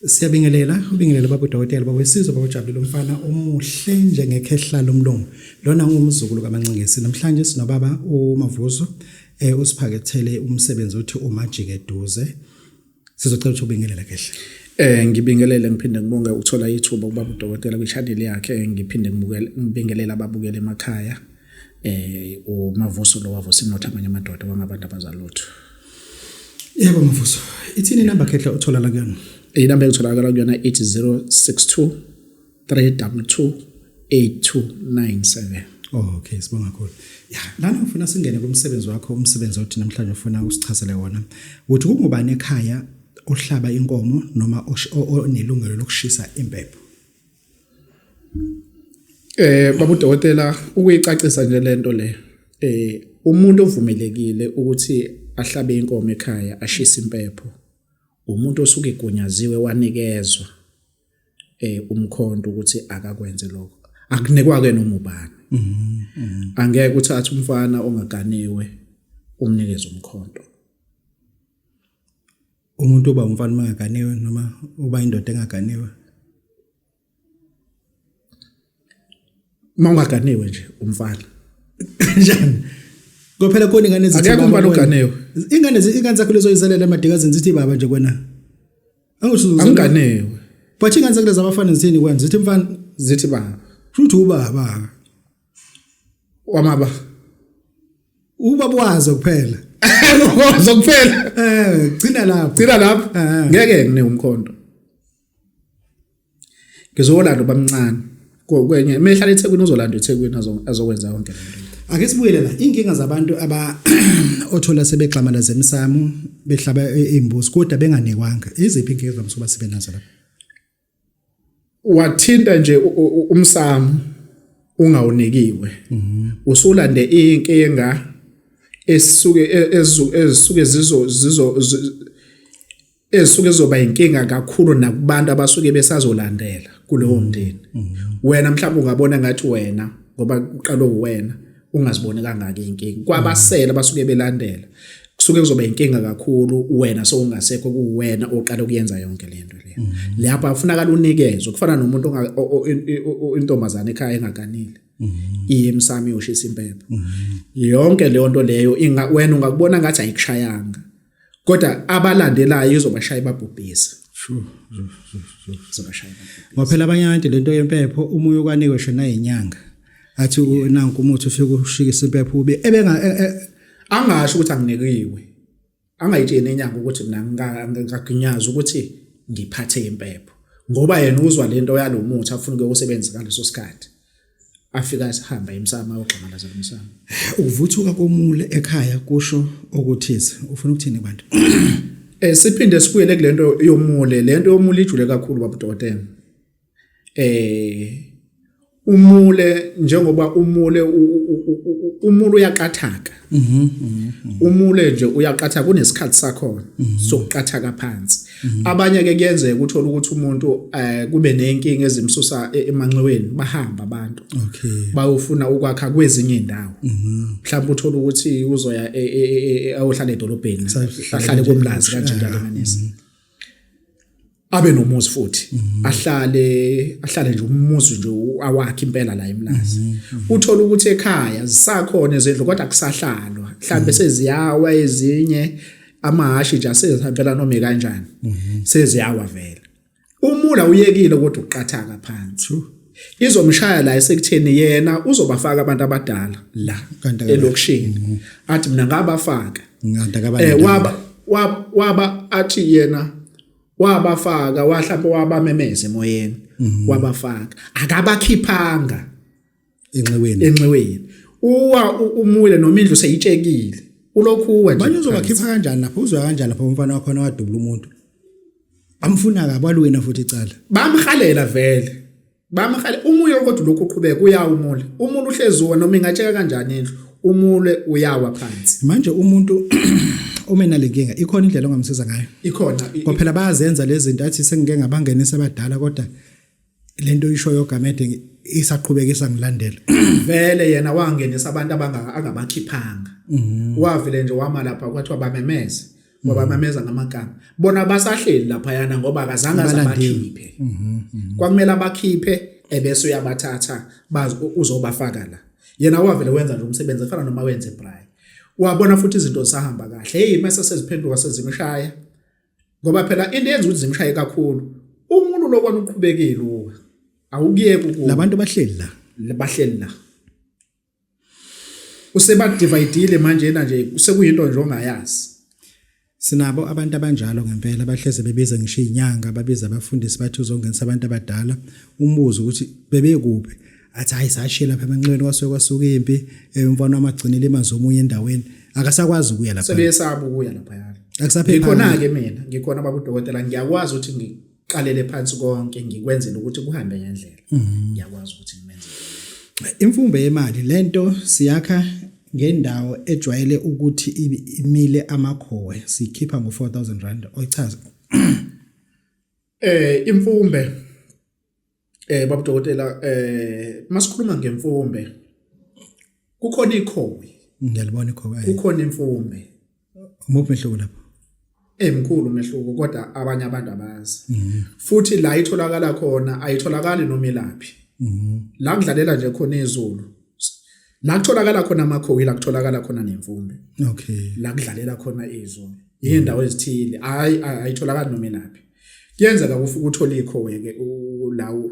Siyabingelela, ubingelela baba udokotela baba wesizwe baba ujabulile umfana omuhle njengekhehla lomlungu. Lona ngumzukulu kaManxingesi. Namhlanje sinobaba uMavuzo eh usiphakethele umsebenzi othi umajike eduze. sizocela ukuthi ubingelele kehle Eh ngibingelele ngiphinde ngibonge ukuthola ithuba ukuba udokotela kwichannel yakhe ngiphinde ngibukele ngibingelele ababukele emakhaya eh umavuso lo wavusa inotha amanye amadoda wangabantu abazalutho Yebo mavuso ithini number khehla uthola la kuyona Inamba engitholakala kuyona ithi 062 3228297 Oh okay sibonga kakhulu. Ya lana ngifuna singene kumsebenzi wakho umsebenzi othi namhlanje ufuna usichazele wona. Uthi kungubani ekhaya ohlaba inkomo noma onelungelo lokushisa impepho. Eh babu dokotela ukuyicacisa nje lento le. Eh umuntu ovumelekile ukuthi ahlabe inkomo ekhaya ashise impepho umuntu osuke egunyaziwe wanikezwa eh umkhonto ukuthi akakwenze lokho akunikwa ke noma ubani mhm. angeke uthathe umfana ongaganiwe umnikeze umkhonto umuntu oba umfana mangaganiwe noma uba indoda engaganiwe mawungaganiwe nje umfana njani Kophela khona ingane ezithi akekho umfana oganewe. Ingane ingane zakho lezo izelela emadikazini zithi baba nje kwena. Angisho anganewe. But ingane zakho lezi abafana zithini kwena zithi mfana zithi baba. Futhi ubaba. Wamaba. Ubaba wazo kuphela. Wazo kuphela. Eh, gcina lapho. Gcina lapho. Eh. Ngeke ngine umkhonto. ngizowolanda ubamncane kwenye uma ehlala ethekwini uzolanda ethekwini azokwenza konke ake sibuyele la inkinga zabantu aba othola sebegxamala zemsamo behlaba imbuzi kodwa benganekwanga iziphi inkinga evamise ukuba sibe nazo lapha wathinta nje umsamo ungawunikiwe mhm. usulande inkinga esuke e, ezisuke zizo zizo esuke izoba inkinga kakhulu nakubantu abasuke besazolandela kulowo mm-hmm. mndeni mm-hmm. wena mhlawumbe ungabona ngathi wena ngoba uqalo uwena ungaziboni kangaka inkinga kwabasela mm-hmm. basuke belandela kusuke kuzoba inkinga kakhulu wena sowungasekho kuwena oqala ukuyenza yonke lento le lapha afunaka lunikezwe kufana nomuntu intombazane ekhaya engaganile iye emsami ushisa impepho yonke leyo nto leyo wena ungakubona ngathi ayikushayanga kodwa abalandelayo izobashaya ibabhubhise sure izobashaya ngoba phela abanye abantu lento yempepho umuntu okwanikwe shona inyanga athi nanku umuthi ufike ushikisa impepho ube ebenga e, e, angasho ukuthi anginikiwe angayitsheni enyanga ukuthi mina ngikaginyaza ukuthi ngiphathe impepho ngoba yena uzwa lento yalomuthi afuna ukuyosebenzisa ngaleso sikhathi afika esihamba emsamo ayogxamalaza lomsamo ukuvuthuka komule ekhaya kusho okuthize ufuna ukuthini bantu eh siphinde sibuyele kulento yomule lento yomule ijule kakhulu babudokotela eh umule njengoba umule umule uyaqathaka mhm, mhm, mhm. umule nje uyaqathaka kunesikhathi sakho sokuqathaka phansi Mhm. abanye ke kuyenzeka uthola ukuthi umuntu eh kube nenkinga ezimsusa e- emanxiweni bahamba abantu okay bayofuna ukwakha kwezinye indawo Mhm. mhlawumbe uthola ukuthi uzoya e- e- e- e- e- ayohlala edolobheni Sahlala ahlale nje. komlazi kanje njalo kanisa abe nomuzi futhi ahlale ahlale nje umuzi nje u- awakhe impela la emlazi uthola ukuthi ekhaya zisakhona ezindlu kodwa kusahlalwa mhlambe seziyawa ezinye amahhashi nje asezihambela noma kanjani mhm. seziyawa vele umula uyekile kodwa uqathaka phansi izomshaya la esekutheni yena uzobafaka abantu abadala la elokishini mhm. athi mina ngabafaka eh waba waba athi yena wabafaka wahlapha wabamemeza emoyeni mhm. wabafaka akabakhiphanga enxiweni enxiweni uwa umule noma indlu seyitshekile ulokhu uwa nje manje uzobakhipha kanjani lapho uzwa kanjani lapho umfana wakho nawadubula umuntu amfuna kabi walwena futhi icala bamhalela vele bamhale umuye kodwa lokhu uqhubeka uyawumule umuntu uhlezuwa noma ingatsheka kanjani indlu umule uyawa phansi manje umuntu uma enalenkinga ikhona indlela ongamsiza ngayo ikhona phela bayazenza lezi zinto athi sengike ngabangenisa abadala kodwa lento oyishoyo gamede isaqhubekisa ngilandela vele yena wangenisa abantu abangaka angabakhiphanga mhm. wavile nje wama lapha kwathiwa bamemeze ngoba mhm. bamemeza ngamagama bona basahleli lapha yana ngoba akazange azabakhiphe mhm, kwakumele abakhiphe ebese uyabathatha bazi uzobafaka la yena wavele wenza nje umsebenzi efana noma wenze braai wabona futhi izinto zisahamba kahle hey mase seziphenduka sezimshaya ngoba phela into yenza ukuthi zimshaye kakhulu umuntu lokwana uqhubekile uwe awukuyeki ukuba labantu bahleli la bahleli la usebadividile manje yena nje usekuyinto nje ongayazi Sinabo abantu abanjalo ngempela bahleze bebiza ngisho izinyanga babiza abafundisi bathi uzongenisa abantu abadala umbuzo ukuthi bebekuphi athi hayi sashiye lapha emanxebeni kwasuke kwasuka impi eh, umfana wamagcinile imanzi omunye endaweni akasakwazi ukuya lapha sebeyesaba ukuya lapha yalo akusaphephi khona ke mina ngikhona babudokotela ngiyakwazi ukuthi ngiqalele phansi konke ngikwenzele ukuthi kuhambe ngendlela mhm. ngiyakwazi ukuthi ngimenze imfumbe yemali lento siyakha ngendawo ejwayele ukuthi imile amakhowe sikhipha ngo 4000 rand oyichaza eh imfumbe Eh babu dokotela eh masikhuluma ngemfumbe kukhona ikhowi ngiyalibona ikhowi kukhona imfumbe umuphi mehluko lapho emkhulu mehluko kodwa abanye abantu abazi mhm. futhi la itholakala khona ayitholakali noma ilaphi mhm. la kudlalela nje khona izulu la kutholakala khona amakhowi la kutholakala khona nemfumbe okay la kudlalela khona izulu yindawo ezithile hayi ayitholakali noma ilaphi kuyenzeka kufa ukuthola ikhowe-ke lawo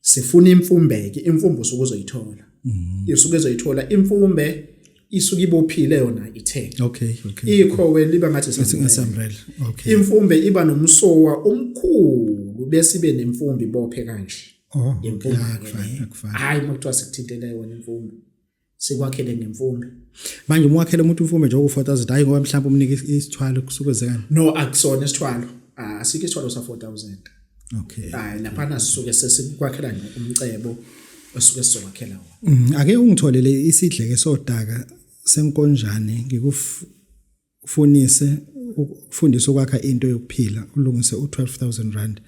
sifuna imfumbeke imfumbo usuke uzoyithola mhm. isuke ezoyithola imfumbe isuke ibophile yona ithe okay okay ikhowe liba ngathi singasambrela okay imfumbe iba nomsowa omkhulu bese ibe nemfumbi bophe kanje oh imfumbe hayi makuthiwa sikuthintele yona imfumbe sikwakhele ngemfumbe manje uma wakhele umuntu imfumbe nje oku4000 hayi ngoba mhlawumbe umnika isithwalo kusuke kwenzekani no akusona isithwalo ah, asike isithwalo sa 4000 okay hayi lapha nasisuke sesikwakhela nje umcebo osuke sizowakhela wona mm, ake ungitholele isidleke sodaka senkonjane ngikuf ufunise ukufundisa ukwakha into yokuphila ulungise u12000 rand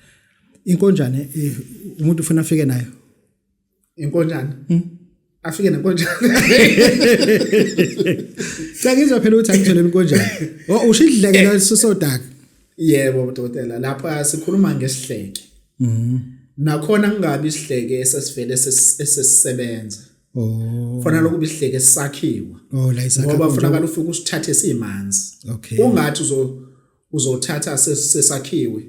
inkonjane eh, umuntu ufuna afike nayo inkonjane hmm? afike nenkonjane Sengizwa phela ukuthi angithole inkonjane oh, usho idleke la sisodaka yebo dokotela lapha sikhuluma ngesihleke mhm nakhona kungabi isihleke esesivele esesisebenza Oh. Fona lokhu bisihleke sakhiwa. Oh, la isakhiwa. Ngoba funa kala ufike usithathe simanzi. Okay. Ungathi uzo uzothatha sesakhiwe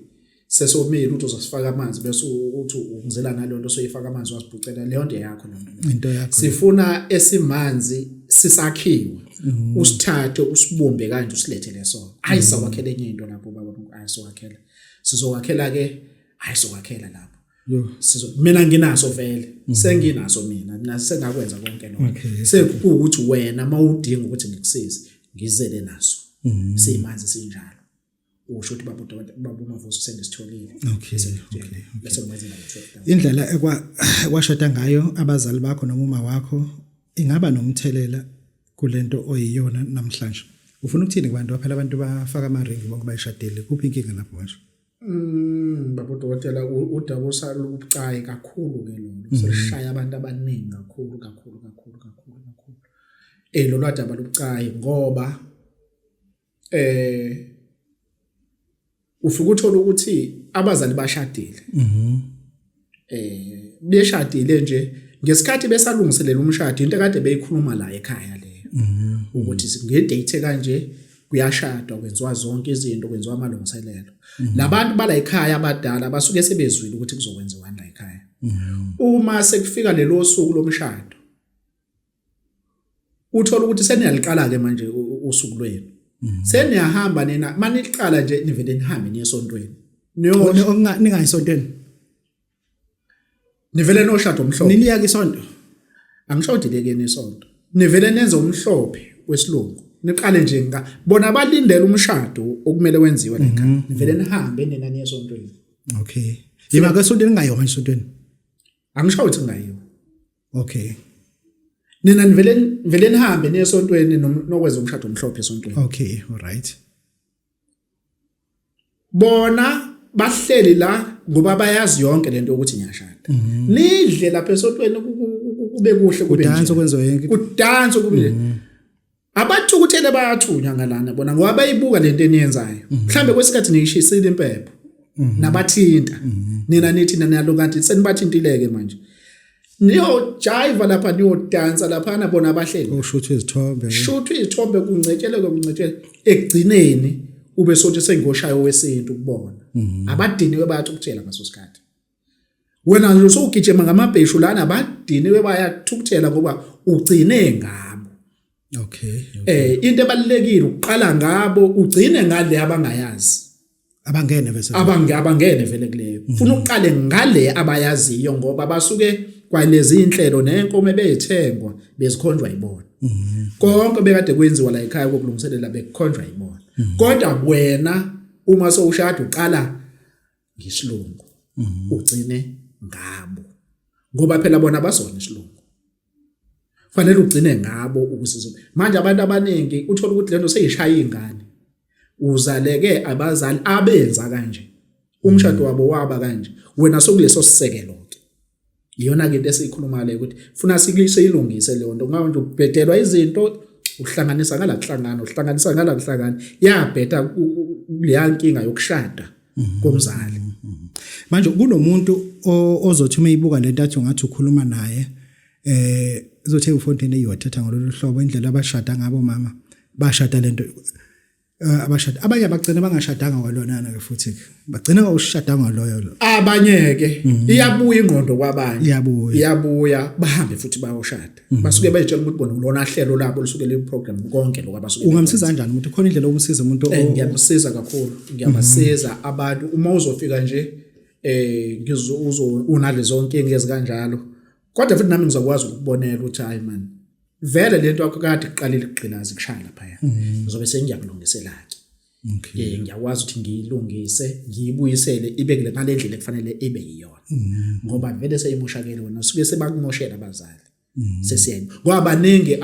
sesomile uthi uzosifaka amanzi bese uthi ungizela nalonto soyifaka amanzi wasibhucela leyo nto yakho noma into yakho sifuna esimanzi sisakhiwe mm. usithathe usibumbe kanje usilethe leso hayi mm. sawakhela enye into lapho baba ayisowakhela sizowakhela ke ayisowakhela lapho yo sizo mina nginaso vele mhm. senginaso mina mina sengakwenza konke lokho sekuwukuthi wena mawudinga ukuthi ngikusize ngizele naso mhm. simanzi sinjalo usho ukuthi baba udokotela baba umavuso sengisitholile okay bese ngwenza indlela ekwa kwashada ngayo abazali bakho noma uma wakho ingaba nomthelela kulento oyiyona namhlanje ufuna ukuthini kubantu baphela abantu bafaka ama ring bonke bayishadile kuphi inkinga lapho manje Mm baba dokotela udaba osalubucayi kakhulu ke lolu mm-hmm. selishaya abantu abaningi kakhulu kakhulu kakhulu kakhulu kakhulu eh lolu adaba lubucayi ngoba eh ufike uthola ukuthi abazali bashadile mhm eh beshadile nje ngesikhathi besalungiselela umshado into kade beyikhuluma la ekhaya leyo mhm. ukuthi ngedate kanje kuyashadwa kwenziwa zonke izinto kwenziwa amalungiselelo mhm. labantu bala ekhaya abadala basuke sebezwile ukuthi kuzokwenziwa la ekhaya mhm. uma sekufika lelo suku lomshado uthola ukuthi seniyaliqala-ke manje usuku lwenu mhm. seniyahamba nina uma niliqala nje nivele nihambe niye esontweni ningayi esontweni nivele noshado omhlophe niliyake isonto angisho ukuthi lekeni isonto nivele nenze umhlophe wesilungu niqale nje nga bona balindele umshado okumele wenziwe la ekhaya mhm. nivele nihambe nina niye esontweni okay yima ke esontweni ngayo manje esontweni angisho ukuthi ngayo okay nina nivele nivele nihambe niye esontweni nokwenza umshado omhlophe esontweni okay alright bona bahleli la ngoba bayazi yonke lento ukuthi ngiyashada mhm. nidle lapha esontweni kube kuhle kube danso kwenziwe yonke kudanso kube mhm. abathukuthele bayathunywa ngalana bona ngoba bayibuka lento eniyenzayo mhm. mhlambe kwesikhathi niyishisile impepho mhm. nabathinta mhm. nina nithi nanalo kanti senibathintileke manje niyojayiva lapha niyodansa laphana bona abahleli ushuthwa izithombe shuthwa izithombe kuncetsheleke kuncetsheleke ekugcineni ube sothi sengoshayo wesintu kubona abadiniwe bayathi ukutshela ngaso sikhathi wena nje usugijima ngamabheshu lana badiniwe bayathukuthela ngoba ugcine ngabo okay, okay. eh into ebalekile uqala ngabo ugcine ngale abangayazi abangene vese abange abangene vele kuleyo mhm. ufuna uqale ngale abayaziyo ngoba basuke kwalezi inhlelo nenkomo ebeyithengwa bezikhonjwa yibona mhm. konke bekade kwenziwa la ekhaya kokulungiselela bekukhonjwa yibona mhm. kodwa wena uma sowushada uqala ngisilungu mhm. ugcine ngabo ngoba phela bona basona isilungu fanele ugcine ngabo ukusiza manje abantu abaningi uthola ukuthi lento seyishaya ingane uzaleke abazali abenza kanje umshado wabo waba kanje wena sokuleso sisekelo iyona ke into esiyikhuluma le ukuthi funa sikulise ilungise leyo nto ngoba nje ubhedelwa izinto uhlanganisa ngala kuhlangana uhlanganisa ngala kuhlangana yabheda leya nkinga yokushada mhm. komzali mhm. Mhm. manje kunomuntu ozothi uma ibuka lento athi ungathi ukhuluma naye eh uzothe ufontaine eyothetha ngololu hlobo indlela abashada ngabo mama bashada lento Eh, abashadi abanye abagcina bangashadanga kwalonana ke futhi bagcina ngawushadanga loyo lo abanye ke mhm. iyabuya ingqondo kwabanye iyabuya iyabuya bahambe futhi bayoshada mhm. basuke betshela ukuthi bona kulona hlelo labo lisuke le program konke lokho abasuke ungamsiza kanjani umuntu khona indlela okumsiza umuntu eh, ngiyamsiza kakhulu ngiyabasiza mhm. abantu uma uzofika nje eh ngizo unalezo nkinga ezikanjalo kodwa futhi nami ngizokwazi ukubonela ukuthi hayi man vele lento akukade kuqalile ukugqilaza kushaya lapha ya mm. ngizobe sengiyakulungisela ke okay eh, ngiyakwazi ukuthi ngiyilungise ngiyibuyisele ibe kule mali endlela ekufanele ibe yiyona mm. ngoba vele seyimoshakele wena suke sebakumoshela abazali mm. sesiyena ngoba baningi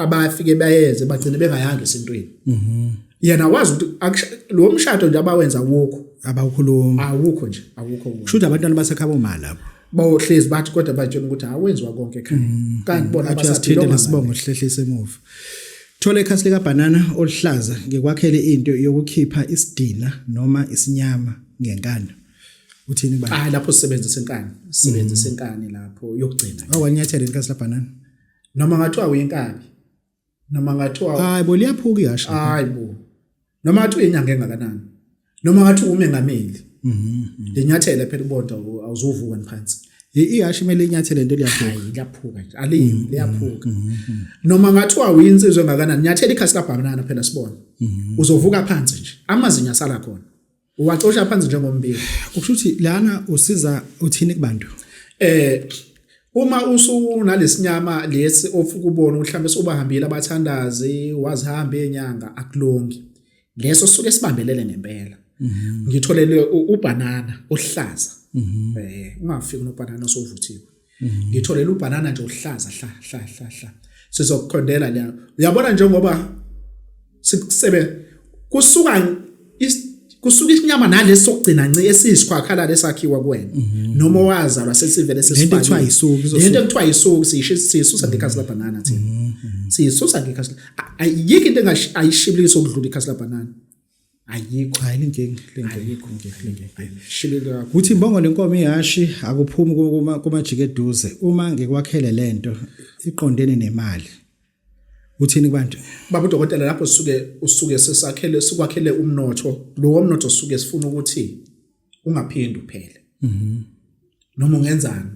abafike bayeze bagcine bengayanga esintweni mm-hmm. yena wazi ukuthi lo mshado nje abawenza wokho abawukhuluma awukho nje awukho kusho ukuthi abantwana basekhaba uma lapho bawohlezi bathi kodwa batshela ukuthi awenziwa konke ekhaya mm, kanti bona mm, basathile lesibongo sihlehlise emuva thola ikhasi lika banana oluhlaza ngikwakhele into yokukhipha isidina noma isinyama ngenkani uthini ba ah lapho sisebenzisa inkani sisebenzisa mm. inkani lapho yokugcina awanyathela ikhasi la banana noma ngathiwa uyenkabi noma ngathiwa hayi bo liyaphuka ihasha hayi bo noma ngathi uyinyanga engakanani noma ngathi umengameli mhm lenyathela phela ubonda awuzovuka phansi ihasha imele inyathele into liyaphuka liyaphuka nje aliyi mhm, liyaphuka mhm, mhm. noma ngathiwa uyinsizwe engakanani nyathela ikhasi kabhakanana phela sibona uzovuka phansi nje amazinyo asala khona uwacosha phansi njengombiko ukusho ukuthi lana usiza uthini kubantu eh uma usunalesinyama lesi ofuka ubona mhlambe sobahambile abathandazi wazihamba enyanga akulongi leso suke sibambelele ngempela mhm. ngitholele ubhanana ohlaza mhm. eh ungafiki nobhanana osovuthiwe mhm. ngitholela ubhanana nje uhlaza hla hla hla hla sizokuqondela la uyabona njengoba sikusebe kusuka kusuka isinyama nalesi sokugcina nci esiyisikhwakhala lesakhiwa kuwena mhm. noma wazalwa sesivele sesifakile into ayisuki into ekuthiwa ayisuki siyisho sisusa ngekhasi labanana thina mhm. siyisusa ngekhasi ayikho into engayishibilisa ukudlula ikhasi labanana ayikho hayi lenkinga lenkinga lenkinga shileka ukuthi imbongo lenkomo ihashi akuphumi kuma kumajike eduze uma ngikwakhele lento iqondene nemali uthini kubantu baba udokotela lapho suke usuke sesakhele sikwakhele umnotho lo womnotho suke sifuna ukuthi ungaphindi uphele mhm noma ungenzani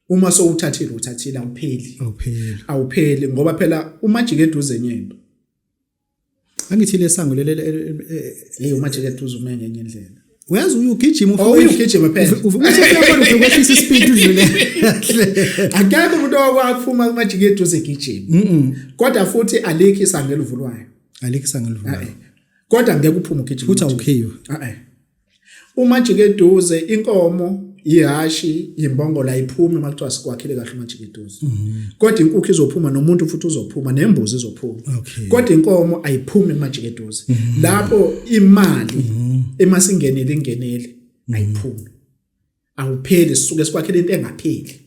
uma sowuthathile uthathile awupheli awupheli awupheli ngoba phela umajike eduze nyento angithi lesango lele leyo manje ke duze ume ngenye indlela uyazi uyugijima ufuna oh, uyugijima phela ufuna ukuthi ukwehlisa ispeed udlule akekho umuntu owakuphuma kumajike eduze gijima kodwa futhi alikho isango elivulwayo alikho isango elivulwayo kodwa ngeke uphume ugijima futhi awukhiyo a Umajikeduze inkomo ihashi imbongola iphume uma kuthiwa sikwakhile kahle umajikeduze mhm. kodwa inkukhu izophuma nomuntu futhi uzophuma nembuzi izophuma kodwa inkomo ayiphumi emajikeduze mhm. lapho imali mhm. emasingenile ingenile ayiphumi awupheli sisuke sikwakhela into engapheli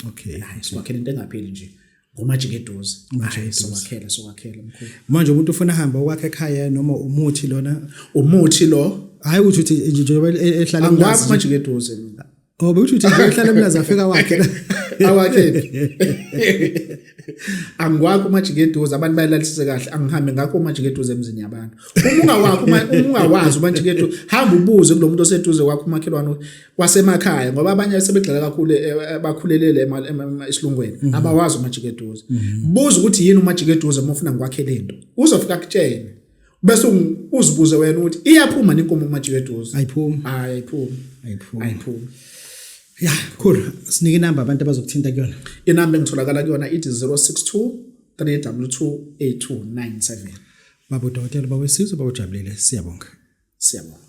okay hayi sikwakhela into engapheli nje ngomajike eduze manje siwakhela siwakhela mkhulu manje umuntu ufuna hamba okwakhe ekhaya noma umuthi lona umuthi lo hayi ukuthi uthi njengoba e- ehlala angwazi majike eduze mina oh bekuthi uthi ehlala mina zafika wakhe awakhe angiwakho umajikeduze abantu bayalalisise kahle angihambe ngakho umajikeduze emzini yabantu uma ungawakho uma ungawazi umajikeduze hamba ubuze kulo muntu oseduze kwakho umakhelwane wasemakhaya ngoba abanye asebegxila kakhulu eh, eh, bakhulelele esilungweni mhm. abawazi umajikeduze mhm. buza ukuthi yini umajikeduze uma ufuna ngikwakhele into uzofika kutshene bese uzibuze wena ukuthi iyaphuma nenkomo umajiwe eduze ayiphumi hayi ayiphumi ayiphumi ayiphumi ya cool sinike inamba abantu abazokuthinta kuyona inamba engitholakala kuyona ithi 062 322 8297 babo dokotela bawesizwe bawujabulile siyabonga siyabonga